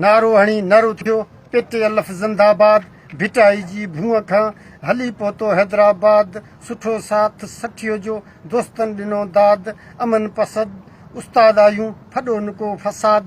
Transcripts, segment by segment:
نعرو هڻي نر اٿيو، پي ٽي الف زنده باد، ڀٽائي جي ڀونء کان هلي پهتو حيدرآباد، سٺو ساٿ سٺيء جو، دوستن ڏنو داد، امن پسد استاد آهيون، ڦڏو نه ڪو فساد.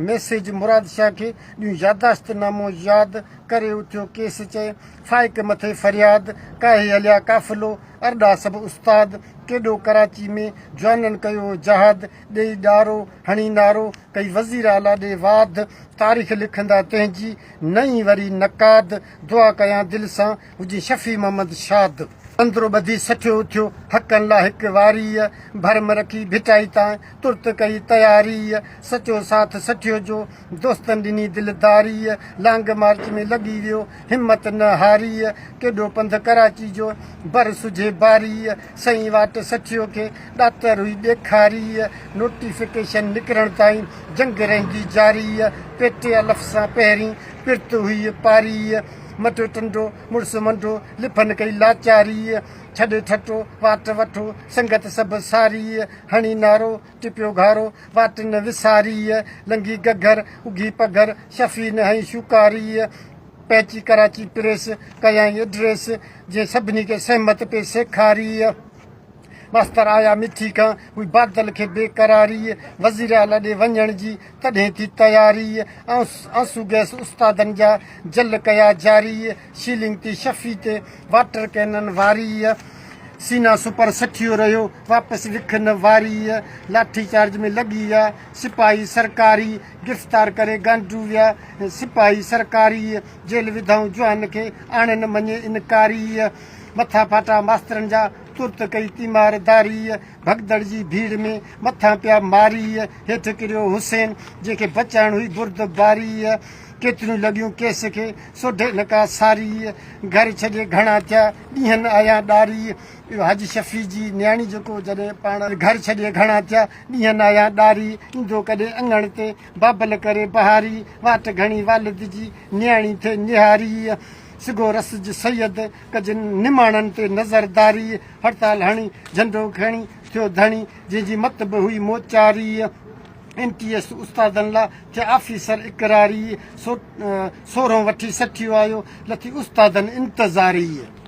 ميسيج مراد شاهه کي ڏيون ياداشت نامو ياد، ڪري اٿيو ڪيس چئي فائق مٿي فرياد، ڪاهي هليا قافلو ارڏا سڀ استاد، ڪيڏو ڪراچي ۾ جوانن ڪيو جهاد، ڏئي ڏارو هڻي نعرو ڪئي وزير اعليٰ ڏي واڌ تاريخ لکندا تنهنجي نه اي وري نقاد دعا ڪيان دل سان هجين شفيع محمد شاد. اندرو ٻڌي سٺيو اٿيو حقن لا هڪ واريء ڀرم رکي ڀٽائي تانء ترت ڪئي تياريء سچو ساٿ سٺيو جو دوستن ڏني دلداريء، لانگ مارچ ۾ لڳي ويو، همت نه هاريء، ڪيڏو پنڌ ڪراچي جو، بر سجهي باريء، سئي واٽ سٺيو کي، ڏاتر هئي ڏيکاريء، نوٽيفڪيشن نڪرڻ تائين، جنگ رهندي جاريء، پيٽي الف سان پهرين، پرت هئي پاريء، مٽيو ٽنڊو، مڙس منڊو، لڦن ڪئي لاچاريء، ڇڏي ٺٽو، واٽ وٺو، سنگت سڀ ساريء، هڻي نعرو، ٽپيو گهارو واٽ نه وساريء، لنگهي گگهر اگهي پگهر شفيع نه هنئي شوڪاريء، پهچي ڪراچي پريس ڪيائين ايڊريس، جنهن سڀني کي سهمت پئي سيکاريء، ماستر آيا مٺي کان هئي بادل کي بي قراريء، وزيراعليٰ ڏي وڃڻ جي تڏهن ٿي تياريء، آئونس آنسو گئس استادن جا جل ڪيا جاريء، سيلنگ تي شفي تي واٽر ڪينن واريء سينا سپر سٺيو رهيو واپس وکن واريء لاٺي چارج ۾ لڳي ويا سپاهي سرڪاري گرفتار ڪري گانڊو ويا سپاهي سرڪاري جيل وڌائون جوان کي آڻين مڃي انڪاري مٿا ڦاٽا ماسترن جا ترت ڪئي تيمار داريء ڀڳدڙ جي ڀيڙ ۾ مٿان پيا ماريء هيٺ ڪريو حسين جنهن کي بچائڻ هئي برد باريء ڪيتريون لڳيون ڪيس کي سوڍي نڪا ساري، گهر ڇڏي گهڻا ٿيا، ڏينهن آيان ڏاري. اهو حاجي شفيع جي نياڻي جيڪو جڏهن پاڻ گهر ڇڏي گهڻا ٿيا، ڏينهن آيان ڏاري، ايندو ڪڏهن اڱڻ تي، بابل ڪري بهاري، واٽ گهڻي والد جي، نياڻي ٿئي نهاري. سگهو رسج سيد، ڪجن نماڻن تي نظر داري، هڙتال هڻي، جهنڊو کڻي، ٿيو ڌڻي، جنهن جي مت به هئي موچاري. ايم ٽي ايس استادن لا تي آفيسر اقراري سورهون وٺي سٺيو آيو لٿي استادن انتظاري.